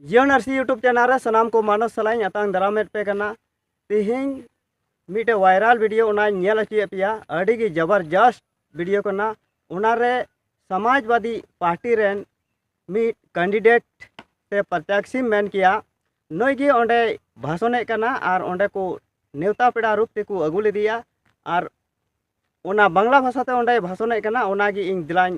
ᱡᱤᱭᱚᱱ ᱟᱨᱥᱤ YouTube channel ᱨᱮ ᱥᱟᱱᱟᱢ ᱠᱚ ᱢᱟᱱᱚᱥ ᱥᱟᱞᱟᱜ ᱤᱧ ᱟᱛᱟᱝ ᱫᱟᱨᱟᱢᱮᱫ ᱯᱮ ᱠᱟᱱᱟ ᱛᱮᱦᱮᱧ ᱢᱤᱫᱴᱮᱡ ᱵᱷᱟᱭᱨᱟᱞ ᱵᱷᱤᱰᱤᱭᱳ ᱚᱱᱟᱧ ᱧᱮᱞ ᱦᱚᱪᱚᱭᱮᱫ ᱯᱮᱭᱟ ᱟᱹᱰᱤ ᱜᱮ ᱡᱚᱵᱚᱨᱡᱚᱥᱛ ᱵᱷᱤᱰᱤᱭᱳ ᱠᱟᱱᱟ ᱚᱱᱟᱨᱮ ᱥᱚᱢᱟᱡᱽᱵᱟᱫᱤ ᱯᱟᱨᱴᱤ ᱨᱮᱱ ᱢᱤᱫ ᱠᱮᱱᱰᱤᱰᱮᱴ ᱥᱮ ᱯᱨᱚᱛᱭᱟᱠᱥᱤᱢ ᱢᱮᱱ ᱠᱮᱭᱟ ᱱᱩᱭ ᱜᱮ ᱚᱸᱰᱮ ᱵᱷᱟᱥᱚᱱᱮᱫ ᱠᱟᱱᱟ ᱟᱨ ᱚᱸᱰᱮ ᱠᱚ ᱱᱮᱣᱛᱟ ᱯᱮᱲᱟ ᱨᱩᱯ ᱛᱮᱠᱚ ᱟᱹᱜᱩ ᱞᱮᱫᱮᱭᱟ ᱟᱨ ᱚᱱᱟ ᱵᱟᱝᱞᱟ ᱵᱷᱟᱥᱟᱛᱮ ᱚᱸᱰᱮ ᱵᱷᱟᱥᱚᱱᱮᱫ ᱠᱟᱱᱟ ᱚᱱᱟᱜᱮ ᱤᱧ ᱫᱮᱞᱟᱧ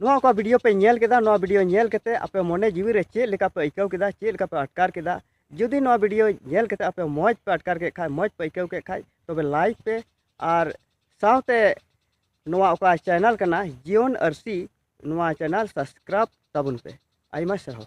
ᱱᱚᱣᱟ ᱚᱠᱟ ᱵᱷᱤᱰᱤᱭᱳ ᱯᱮ ᱧᱮᱞ ᱠᱮᱫᱟ ᱱᱚᱣᱟ ᱵᱷᱤᱰᱤᱭᱳ ᱧᱮᱞ ᱠᱟᱛᱮ ᱟᱯᱮ ᱢᱚᱱᱮ ᱡᱤᱣᱤ ᱨᱮ ᱪᱮᱫ ᱞᱮᱠᱟ ᱯᱮ ᱟᱹᱭᱠᱟᱹᱣ ᱠᱮᱫᱟ ᱪᱮᱫ ᱞᱮᱠᱟ ᱯᱮ ᱟᱴᱠᱟᱨ ᱠᱮᱫᱟ ᱡᱩᱫᱤ ᱱᱚᱣᱟ ᱵᱷᱤᱰᱤᱭᱳ ᱧᱮᱞ ᱠᱟᱛᱮ ᱟᱯᱮ ᱢᱚᱡᱽ ᱯᱮ ᱟᱴᱠᱟᱨ ᱠᱮᱫ ᱠᱷᱟᱡ ᱢᱚᱡᱽ ᱯᱮ ᱟᱹᱭᱠᱟᱹᱣ ᱠᱮᱫ ᱠᱷᱟᱡ ᱛᱚᱵᱮ ᱞᱟᱭᱤᱠ ᱯᱮ ᱟᱨ ᱥᱟᱶᱛᱮ ᱱᱚᱣᱟ ᱚᱠᱟ ᱪᱮᱱᱮᱞ ᱠᱟᱱᱟ ᱡᱤᱭᱚᱱ ᱟᱹᱨᱥᱤ ᱱᱚᱣᱟ ᱪᱮᱱᱮᱞ ᱥᱟᱵᱥᱠᱨᱟᱭᱤᱵ ᱛᱟᱵᱚᱱ ᱯᱮ ᱟᱭᱢᱟ ᱥᱟᱨᱦᱟᱣ